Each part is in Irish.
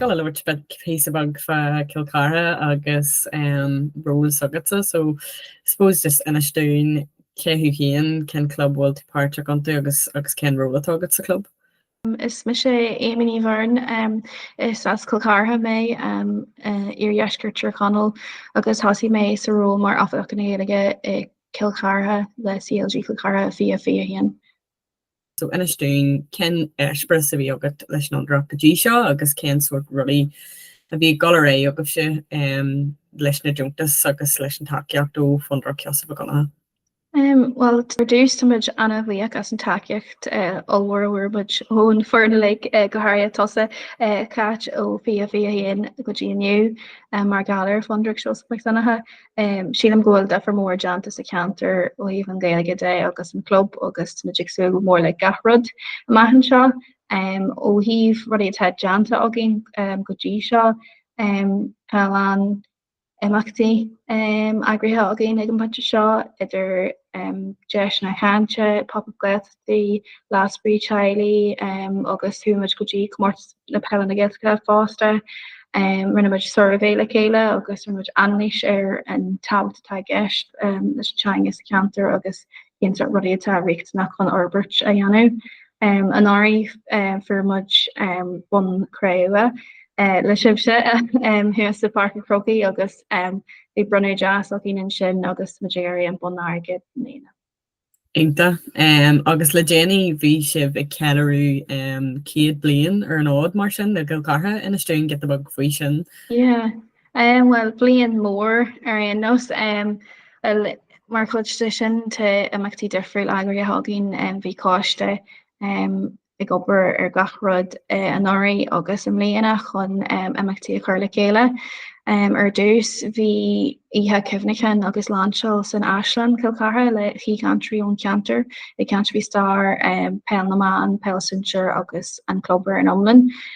giota little bit píosa beag fá Cill Chartha agus um, ról s'agatsa, so I suppose just inis dúinn cé thú féin cén club bhfuil tú páirteach iontu agus agus cén ról atá agat sa club. Is mise Éamonn Ó Beirn, is as Cill Chartha mé iardheisceart Thír Chonaill agus thosaigh mé sa ról mar Oifigeach na Gaeilge i Cill Chartha le CLG Chill Chartha 2021. So inis dúinn cén eispéireas a bhí agat leis an Fhondúireacht go dtí seo agus cén sórt rudaí a bhí ag dul ar aghaidh agaibhse leis na deontais agus leis an tacaíocht ó Fondúireacht Sheosaimh Mhic Dhonncha. Bhuel, ar dtús táimid an-bhuíoch as an tacaíocht ollmhór a fuair muid ón fhoireann uilig, go háirithe tusa, Cáit, ó fiche fiche a haon go dtí inniu mar gheall ar Fhondúireacht Sheosaimh Mhic Dhonncha. Sílim go bhfuil duifear mór déanta sa cheantar ó thaobh an Ghaeilge de agus an Club agus táimid ag súil go mór le gach rud amach anseo. Ó thaobh rudaí atá déanta againn go dtí seo tá a lán imeachtaí eagraithe againn ag an bpointe seo idir deiseanna cainte, pop-up Gaeltachtaí, Lá Spraoi Teaghlaigh agus chuaigh muid go dtí Comórtas Peile na Gaeltachta fosta. Rinne muid suirbhé le chéile agus rinne muid anailís ar an tábhacht atá i gceist leis an teanga sa cheantar agus cinnte rudaí atá riachtanach chun fhorbairt a dhéanamh. Anuraidh fuair muid bonn cré-umha le sibhse thuas i bPáirc an Chrócaigh agus bhí bronnadh deas againn ansin agus muid ag iarraidh an bonn airgid i mbliana. Iontach. Agus le déanaí bhí sibh ag ceiliúradh 100 bliain ar an fhód mar sin le Cill Chartha inis dúinn giota beag faoi sin. Yeah, Em bhuel bliain mór ar aon nós em bhuel mar chuid de sin tá imeachtaí difriúil eagraithe againn em bhí coiste em ag obair ar gach rud eh anuraidh agus i mbliana chun em imeachtaí a chur le chéile. Em ar dtús bhí oíche cuimhneacháin agus lainseáil san Áislann Cill Chartha le haoichainteoirí ón cheantar ag caint faoi stair em Peil na mBan, Peil Sinsir agus an club ar an iomlán.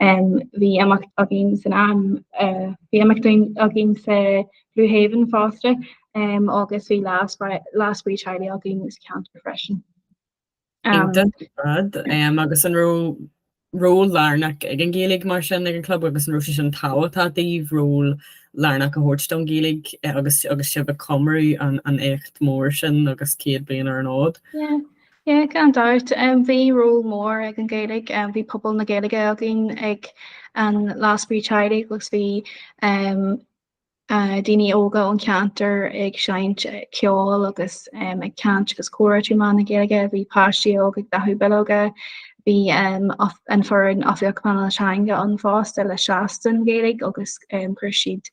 Bhí imeacht againn san am bhí imeacht againn sa Blue Haven fásta agus bhí lá spraoi teaghlaigh againn sa cheantar freisin. agus an raibh ról lárnach ag an Ghaeilge mar sin ag an club agus an raibh sé sin tábhachtach daoibh ról lárnach a thabhairt don Ghaeilge agus agus sibh ag comóradh an éacht mór sin agus 100 bliain ar an fhód. Yeah gan dabht em bhí ról mór ag an Gaeilge em bhí pobal na Gaeilge againn ag an Lá Spraoi Teaghlaigh agus bhí em ah daoine óga ón ceantar ag seinm ceol agus em ag caint agus comhrá trí mheán na Gaeilge. Bhí páistí óga ag dathú bileoga. Bhí em off- an foireann Oifigeach Pleanála Teanga ann fosta le seasamh don Ghaeilge agus em chuir siad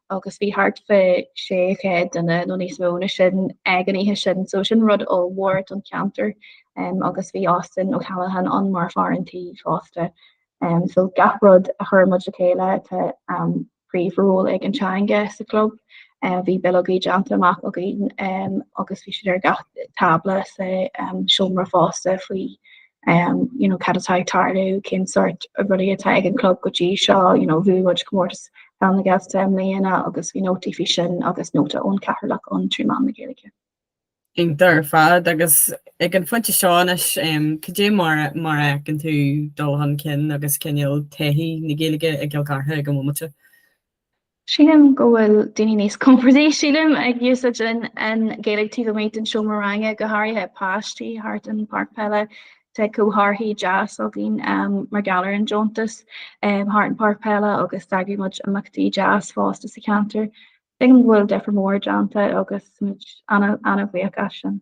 agus bhí thart fá 600 duine nó níos mó na sin ag an oíche sin so sin rud ollmhór don cheantar um, agus bhí Austin O'Callaghan ann mar fhear an tí fosta. Um, so gach rud a chuir muid le chéile tá um, príomh ról ag an teanga sa club. Uh, bhí bileogaí déanta amach againn um, agus bhí siad ar gach tábla sa um, seomra fosta faoi um you know cad atá ag tarlú cén sórt rudaí atá ag an club go dtí seo you know bhuaigh muid Comórtas Pheil na Gaeltachta i mbliana agus bhí nótaí faoi sin agus nóta ón Cathaoirleach ann trí mheán na Gaeilge. Iontach ar fad agus ag an phointe seo anois um cad é mar mar a fheiceann tú dul chun cinn agus cineál taithí na Gaeilge i gCill Chartha ag an mbomaite? Sílim go bhfuil daoine níos compordaí, sílim, ag úsáid an Ghaeilge taobh amuigh den seomra ranga, go háirithe páistí thart an pháirc peile. Tá comharthaí deas againn mar gheall ar an deontas thart an pháirc peile agus d'eagraigh muid imeachtaí deas fosta sa cheantar. Tuigim go bhfuil difear mór déanta agus muid an-bhuíoch as sin.